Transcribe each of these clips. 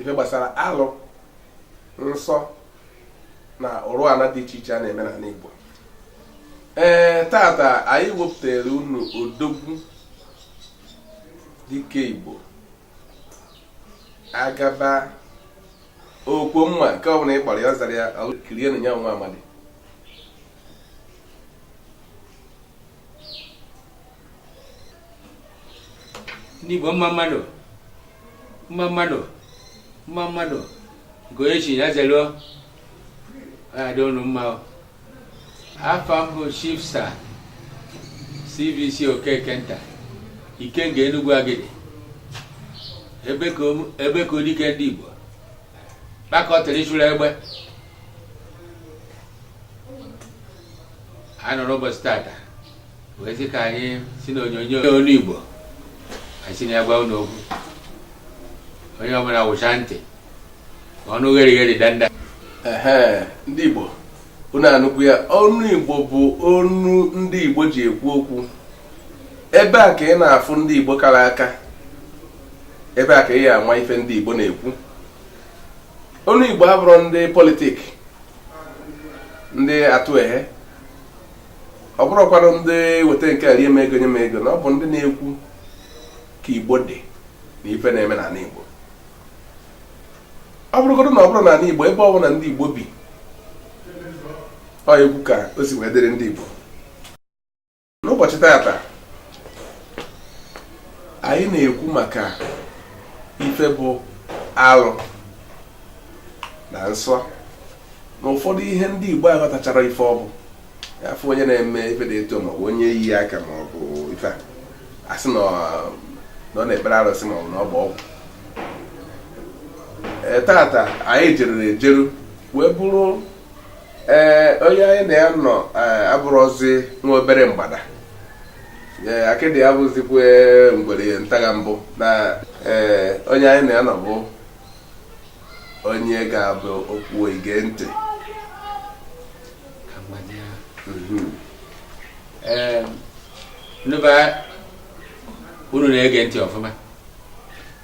ife gbasara alụ nsọ na ụrụ ala dị iche iche a na-eme n'ala Igbo ee tata anyị wepụtara unu odogwu dike Igbo agaba okwo mma nke ọbụla ị kpọrọ ya ọ zara ya kirienụ ya nwa amadi ndị Igbo mma mma nụ mma mma nụ mma mma nụ nke onye chi ya zelu o adị unu mma afa m bụ chief sir cbc okekenta ikenga enugwu agidi ebekuo dike ndị igbo kpakọtara ịchụrụ egbe anyị nọ n'ụbọchị tata wee sị ka anyị si na onyonyo ọnụ Igbo anyị si na ya gwa unu okwu onye ọbụla wụsa ntị ma ọ nụ ghere ghere danda ehe ndị Igbo unu anụkwu ya ọnụ Igbo bụ ọnụ ndị Igbo ji ekwu okwu ebe a ka ị na-afụ ndị Igbo kara aka ebe a ka ị ya ama ife ndị Igbo na-ekwu ọnụ igbo abụrọ ndị politik ndị atụ ehe ọ bụrọkwanụ ndị weta nke a rie m ego nye m ego na ọ bụ ndị na-ekwu ka igbo dị na ife na-eme n'ala igbo ọ bụrụgodu na ọ bụrọ n'ala igbo ebe ọ bụla ndị igbo bi ọ na-ekwu ka o si wee dịrị ndị igbo n'ụbọchị tata anyị na-ekwu maka ife bụ alụ na nsọ na ụfọdụ ihe ndị Igbo aghọtacharọ ife ọ bụ a fụ onye na-eme ife dị etu a maọbụ onye yi aka maọbụ ife a a sị na ọ na-ekpere arụsị maọbụ na ọ bụ ọgwụ e, tata anyị jeruru ejeru wee buru ee onye anyị na ya nọ ee, abụrọzi nwa obere mgbada ee akịdị ya bụzikwa ngwere ntaga mbụ na ee onye anyị na ya nọ bụ onye ga-ekwu okwu i gee ntị Mhm. Ee, ndị be anyị, unu na-ege ntị ọfụma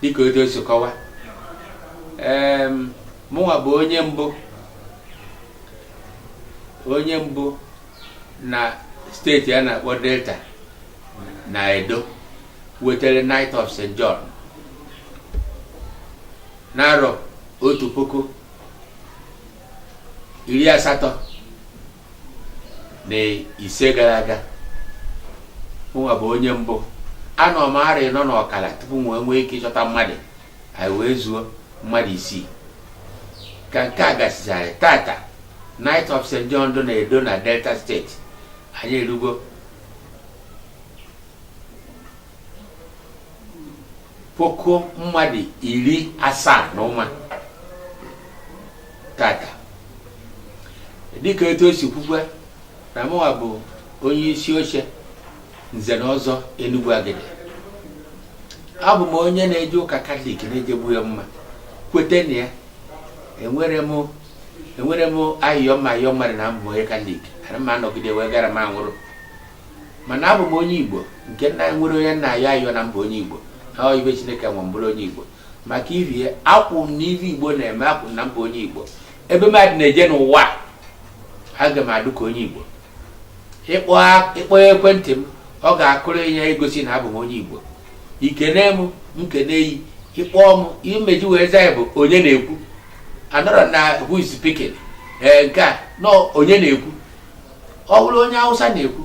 dịka otu o si kọwa Em, mụnwa bụ onye mbụ onye mbụ na steeti a na-akpọ delta na edo wetara knight of st john n'arọ otu puku iri asatọ na ise gara aga mụnwa bụ onye mbụ anọ m arọ ịnọ n'ọkara tupu m wee nwee ike ịchọta mmadụ anyị wee zuo mmadụ isii ka nke a gasịchara tata Knight of St. John dị na Edo na Delta state anyị erugo puku mmadụ iri asaa na ụma tata dịka etu e si kwukwa na mụwa bụ onye isi oche nze na ọzọ Enugwu Agidi abụ m onye na-eje ụka katọlik na-ejegbu ya mma kweta na ya enwere m enwere m ayịyọ mma ayịyọ mmadụ na abụ m onye katọlik ana m anọgide wee gara m anwụrụ mana abụ m onye igbo nke na enwerọ onye m na-ayọ ayọ na m bụ onye igbo na ọ ive chineke nwa m bụrụ onye igbo maka ive a akwụ m na ive igbo na-eme akwụ m na m bụ onye igbo ebe mmadụ na-eje n'ụwa aga m adụ ka onye igbo ịkpọ a- ịkpọ ekwentị m ọ ga-akụrụ yị igosi na abụ m onye igbo i kene m m kenee yị ị kpọọ m m eji wee za yị bụ onye na-ekwu anọrọ na who is speaking ee nke a nọ onye na-ekwu ọ bụrụ onye hausa na-ekwu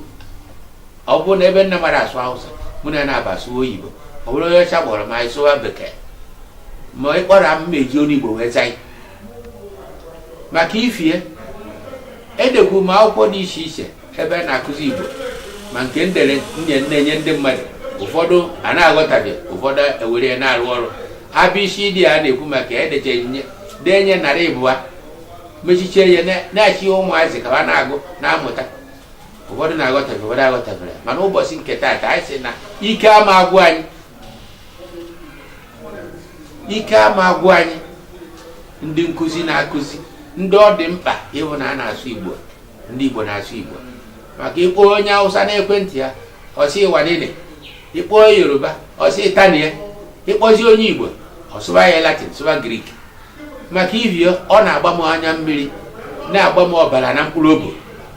ọ bụrụ na ebe m na-amarọ asụ hausa mụ na ya na-aba asụ oyibo ọ bụrụ onye ọcha kpọrọ m anyị sụwa bekee ma ị kpọrọ m m eji ọnụ igbo wee za yị maka ife a edekwu m akwụkwọ dị iche iche ebe a na-akụzi Igbo ma nke m dere nye na-enye ndị mmadụ ụfọdụ a na-aghọtaghị ụfọdụ ewere ya na-arụ ọrụ abịa isi dị a na-ekwu maka ya edecha m ya dee nye narị ịbụa mechichie ya na-achị ụmụazị ka ha na-agụ na-amụta ụfọdụ na-aghọtafe ụfọdụ aghọtafere mana ụbọchị nke taata anyị sị na ike ama agwụ anyị ike ama agwụ anyị ndị nkụzi na-akụzi ndị ọ dị mkpa ịhụ na a na-asụ igbo ndị igbo na-asụ igbo maka ị kpọọ onye awụsa n'ekwentị ya ọ sị wanene ị kpọọ yoruba ọ sị tani ya ị kpọzie onye igbo ọ sụba yị latin sụba Greek maka ivio ọ na-agba m anya mmiri na-agba m ọbala na mkpụrụ obi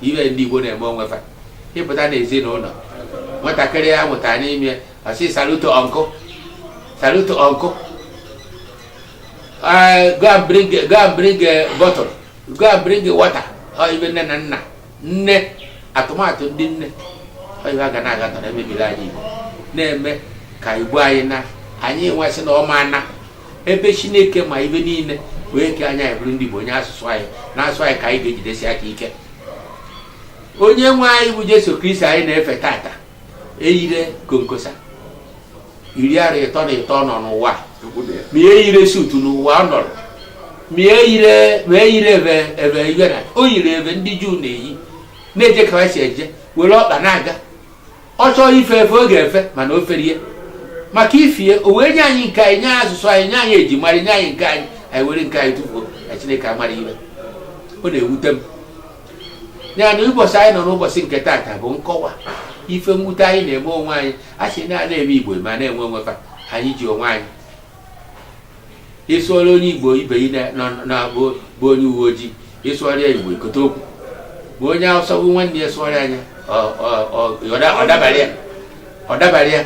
ive ndị igbo na-eme onwe fa ị pụta n'ezinụlọ nwatakịrị a mụtara n'ime I say salute to uncle. Salute to uncle. Uh, go and bring go and bring a bottle. Go and bring water. Or even nne na nna. Nne tụmadị ndị nne. Ọ ive a ga na-aga tọrọ emebiri anyị Igbo. Na-eme ka Igbo anyị na anyị nwesị na ọma na ebe Chineke ma ive niile wee ke anyị anyị bụrụ ndị Igbo o nye asụsụ anyị na-asụ anyị ka anyị ga-ejidesi aka ike. Onye nwe anyị bụ Jesu Kristi anyị na-efe tata eyire konkosa iri arọ ịtọ na ịtọ ọ nọ n'ụwa ma ihe yire suit n'ụwa ọ nọrọ ma ihe yire ma eyire ebe ebe iwe na o yiri ife ndị juu na-eyi na-eje ka ha si eje were ọkpa na-aga ọ chọọ ife efe ọ ga-efe mana o ferie maka ifie o wee nye anyị nke anyị nye anyị asụsụ anyị nye anyị ejimara nye anyị nke anyị anyị were nke anyị tụfuo na chineke amara iwe ọ na-ewute m ya na ụbọsị anyị nọ n'ụbọsị nke taata bụ nkọwa ife mwute anyị na-eme onwe anyị a sị na a na-eme igbo ma na-enwe onwe fa anyị ji onwe anyị ị sụọrọ onye igbo ibe ị na-abụ bụ onye uwe ojii ị sụọrọ ya igbo i kote okwu ma onye awụsa bụ nwanne ya sụọrọ anya ọ dabara ya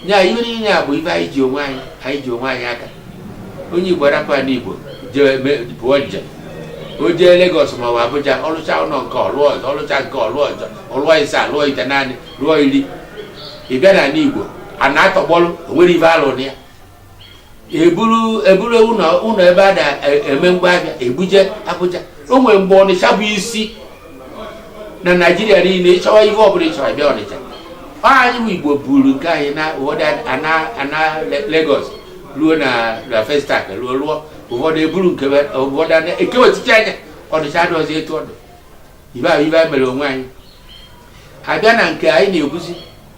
ya ihe niile a bụ ibe anyị ji onwe anyị anyị ji onwe anyị aka onye igbo arapụ ana igbo jee me- pụọ njem o jee lagos ma ọ bụ abuja ọ lụcha ụnọ nke ọ lụọ ọzọ ọ lụcha nke ọ lụọ ọzọ ọ lụọ ise alụọ itenaanị lụọ iri ị bịa n'ana igbo ana atọgbọlụ o nwerọ ife a lụ na ya eburu eburu ụlọ ụlọ ebe a na-eme e, ngwa ahịa ebuje Abuja o nwere mgbe Ọnịcha bụ isi na Naịjirịa niile ị chọwa ihe ọbụla ị chọrọ bịa Ọnịcha anyị bụ Igbo buru nke anyị na ụfọdụ ana Lagos ruo na na Festac ruo ruo ụfọdụ eburu nke ụfọdụ ekewechicha ya Ọnịcha adịghịzi etu ọ dụ ife ahụ ife anyị mere onwe anyị abịa na nke anyị na-ekwuzi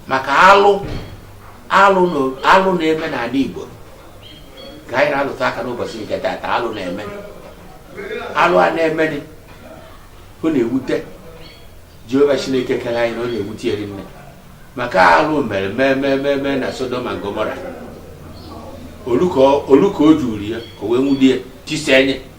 maka alụ alụ na- alụ na-eme n'ana Igbo ka anyị na-alụtụ aka n'ụbọsị nke taata alụ na-eme alụ a na-emenị ọ na-ewute Jehova Chineke kere anyị na ọ na-ewute ya nne maka alụ mere mee mee mee mee na Sodom na Gomora o lu ka o- o lu ka o juru ya o wee wute ya tisenye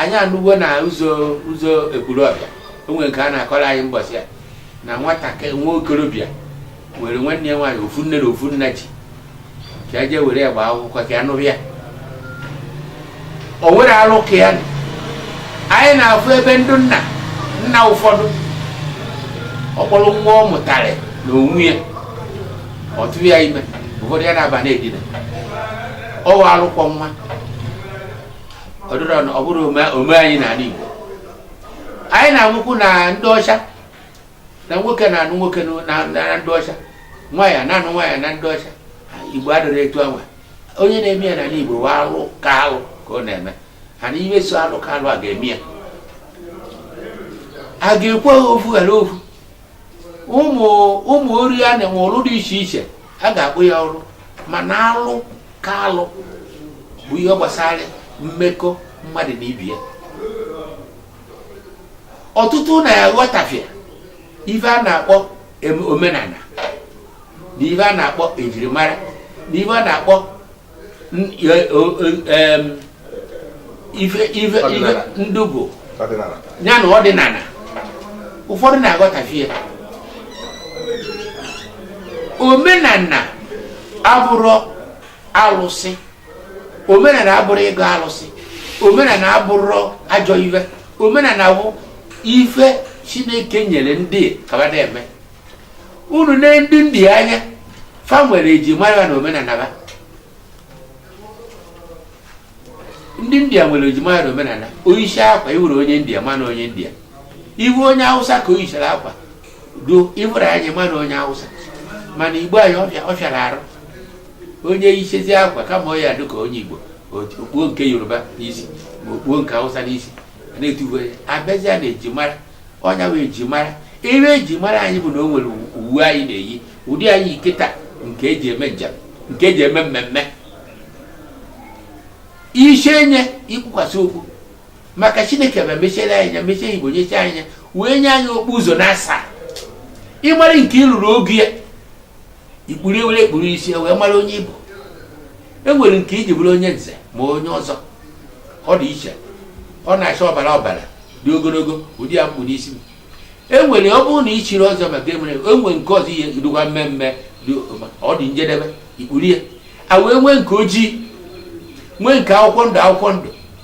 anyị anụwo na ụzọ ụzọ ekwulọbịa o nwere nke a na-akọrọ anyị mbọsị a na nwatakịrị nwa okorobịa were nwanne ya nwaanyị ofu nne na ofu nna jee ka e jee were ya gbaa akwụkwọ ka ya nụrụ ya o nwere alụ ka ya nọ. anyị na-afụ ebe ndị nna nna ụfọdụ ọ kpọrọ nwa ọ mụtara na onwe ya ọ tụrụ ya ime ụfọdụ ya na wa na-edina ọ wa alụ kwọ nwa ọ dụrọ na ọ bụrọ omume anyị n'ana Igbo anyị na-anụkwu na ndị ọcha na nwoke na-anụ nwoke na- na na ndị ọcha nwaanyị na-anụ nwaanyị na ndị ọcha Igbo adịrọ etu anwa onye na-eme ya n'ana Igbo wa alụ ka alụ ka ọ na-eme and ihe so alụ ka alụ a ga-eme ya a ga-ekwu ofu ghara ofu ụmụ ụmụ ọrịa na-enwe ọlụ dị iche iche a ga-akpọ ya arụ mana alụ ka alụ bụ ihe gbasara mmekọ mmadụ na ibe ya ọtụtụ na-aghọtafie ife a na-akpọ omenala na ife a na-akpọ ejirimara na ife a na-akpọ ndugo ya na ọdịnala ụfọdụ na-aghọtafie ya omenala abụrụ alụsị omenala abụrụ ịgọ alụsị omenala abụrụ ajọ ife omenala bụ ife chineke nyere ndị ka ba da-eme unu nee ndị india anya fa nwere eji mara na omenala ba ndị india nwere eji mara na omenala o yishie akwa ị hụrụ onye india ma na onye india ị hụ onye awụsa ka o yichara akwa do ị hụrụ ya ma na onye awụsa mana igbo anyị ọ fịa ọ fịara arụ onye yichazie akwa kama ọ ya-adị ka onye igbo o kpuo nke yoruba n'isi ma o kpuo nke awụsa n'isi na-etuwe a bịazie na eji mara onye uwe eji mara ive eji mara anyị bụ na o nwere uwe anyị na-eyi ụdị anyị yiketa nke eji eme njem nke eji eme mmemme isi anyị ị kpukwasị okpu maka chineke ma mechiere anyị anya mechie igbo nyechi anyị anya wee nye anyị okpu ụzọ na asaa ị mara nke i luru ogo ya i kpuru ya were ya kpuru isi e wee mara onye ị bụ e nwere nke i ji bụrụ onye nze ma onye ọzọ ọ dị iche ọ na-acha ọbara ọbara dị ogologo ụdị a m kpu n'isi m e nwere ọ bụrụ na ị chiri ọzọ maka e nwere nke ọzọ ihe dịkwa mmemme ọ dị njedebe i kpuru ya e wee nwee nke ojii nwee nke akwụkwọ ndụ akwụkwọ ndụ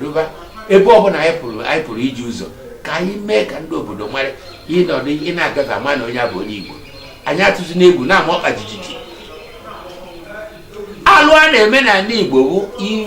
ruba ebe ọbụla anyị pụrụ anyị pụrụ ije ụzọ ka anyị mee ka ndị obodo mara ị nọdụ ị na-agafe a ma na onye a bụ onye igbo anyị atụzina egwu na-ama ọkpa jijiji alụ a na-eme n'ala igbo bụ ive